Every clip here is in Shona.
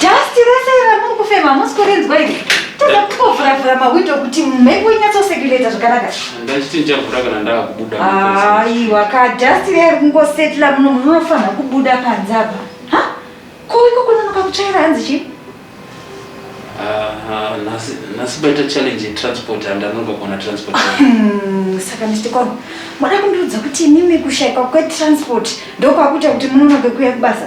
Dust rese iri ramuri kufema hamusi kurinzwa iri. Toda kungovhura-vhura mawindow kuti mhepo inyatsoseculator zvakanaka. Ndachiti ndichavhura kana ndava kubuda. Aiwa ka dust riya riri kungosetla muno munofanira kubuda panze apa. Ha? Ko iko kunonoka kutsvaira hanzi chii? Ah, nhasi nhasi paita challenge yetransport handanonoka kuona transport. Hmm, saka Mr. Kwani, moda kundiudza kuti imimi kushaikwa kwetransport ndokwakuita kuti munonoke kuuya kubasa?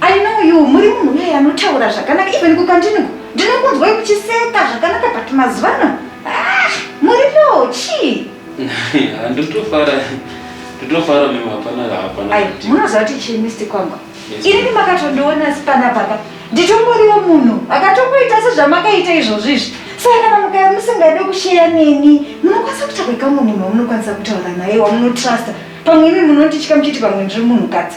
I know you muri munhu uye anotaura zvakanaka even kukantinuku ndinokunzwai kuchiseka zvakanaka but mazuva ano ah, muri low chii ndotofara ndotofara mimi hapana hapana munoziva kuti chii misti kwangu inini makatondiona sipana papa nditongoriwo munhu akatongoita sezvamakaita izvozvo izvi saka kana mukaya musingade kusheya neni munokwanisa kutakuika munhu mamunokwanisa kutaura naye wamunotrusta pamwe imi munonditya muchiti pamwe ndiri munhukadzi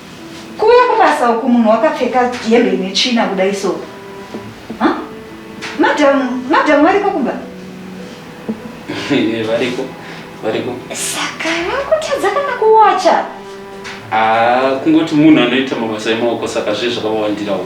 Kuuya kubasa uku munhu wakapfeka hembe ine tsvina kudai so. Huh? Madam, madam variko kumba? Eh, variko, variko. Saka vakutadza kana kuwacha? Ah, kungoti munhu anoita mabasa emaoko saka zviye zvakawandirawo.